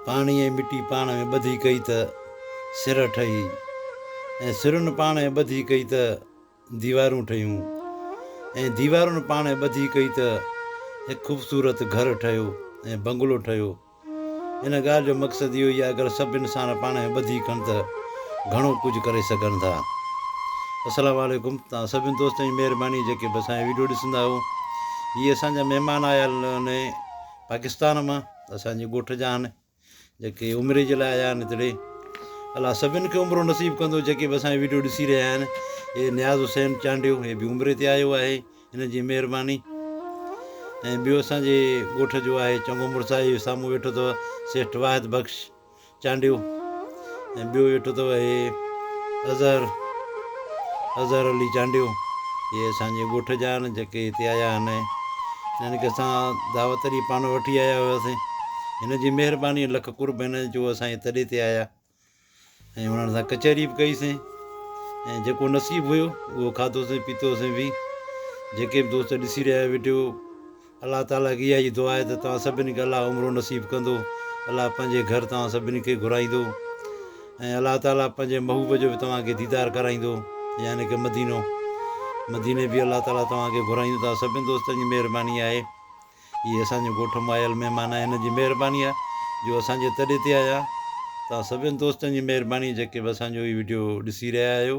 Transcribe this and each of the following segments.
پاڻي ۽ مٽي پاڻ ۾ ٻڌي ڪئي ته سر ٺهي ۽ سرن پاڻ ۾ ٻڌي ڪئي ته ديوارون ٺهيون ۽ ديوارن پاڻ ۾ ٻڌي ڪئي ته هڪ خوبصورت گهر ٺهيو ۽ بنگلو ٺهيو. ان ڳالهه جو مقصد اهو ئي آهي اگر سڀ انسان پاڻ ۾ ٻڌي ڪن ته گهڻو ڪجهه ڪري سگهن ٿا. السلام عليڪم توهان سڀني دوستن جي مهرباني جيڪي به اسان جا وڊيو ڏسندا آهيو هي اسان جا مهمان آيل آهن پاڪستان مان اسان جي ڳوٺ جا آهن جيڪي عمري جي لاء آيا آهن هتڙي الا سڀني کي عمرو نصيب ڪندو جيڪي به اسانجي ويڊيو ڏسي رهيا آهن هي نياز حسين چانڊيو هي به عمري تي آيو آهي هن جي مهرباني ۽ ٻيو اسانجي ڳوٺ جو آهي چڱو مڙس آهي سامهون ويٺو اٿو سيٺ واحد بخش چانڊيو ۽ ٻيو ويٺو اٿو هي اظهر اظهر علي چانڊيو هي اسان جي ڳوٺ جا آهن جيڪي هتي آيا آهن هنن کي اسان دعوت ڏئي پاڻ وٺي آيا هياسين هن جي مهرباني لک قرب هن جو اسان جي تڏي تي آيا ۽ هنن سان ڪچهري به ڪئي سين ۽ جيڪو نصيب هيو اهو کاڌوسين پيتوسين به جيڪي به دوست ڏسي رهيا ويڊيو الله تعاليٰ کي اها ئي دعا آهي ته توهان سڀني کي الله عمرو نصيب ڪندو، الله پنهنجي گهر توهان سڀني کي گهرائيندو ۽ الله تعاليٰ پنهنجي محبوب جو به توهان کي ديدار ڪرائيندو يعني ڪه مدينو مديني به الله تعاليٰ توهان کي گهرائيندو توهان سڀني دوستن جي مهرباني آهي اهي اسان جي ڳوٺ مان آيل مهمان آهن انهن جي مهرباني آهي جو اسان جي تڏي تي آيا توهان سڀني دوستن جي مهرباني جيڪي به اسان جو هي وڊيو ڏسي رهيا آهيو.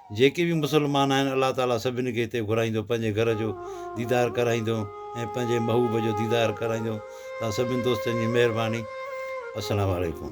جيڪي به مسلمان آهن الله تعالي سڀني کي هتي گهرائيندو پنهنجي گهر جو ديدار ڪرائيندو ۽ پنهنجي محبوب جو ديدار ڪرائيندو توهان سڀني دوستن جي مهرباني السلام عليڪم.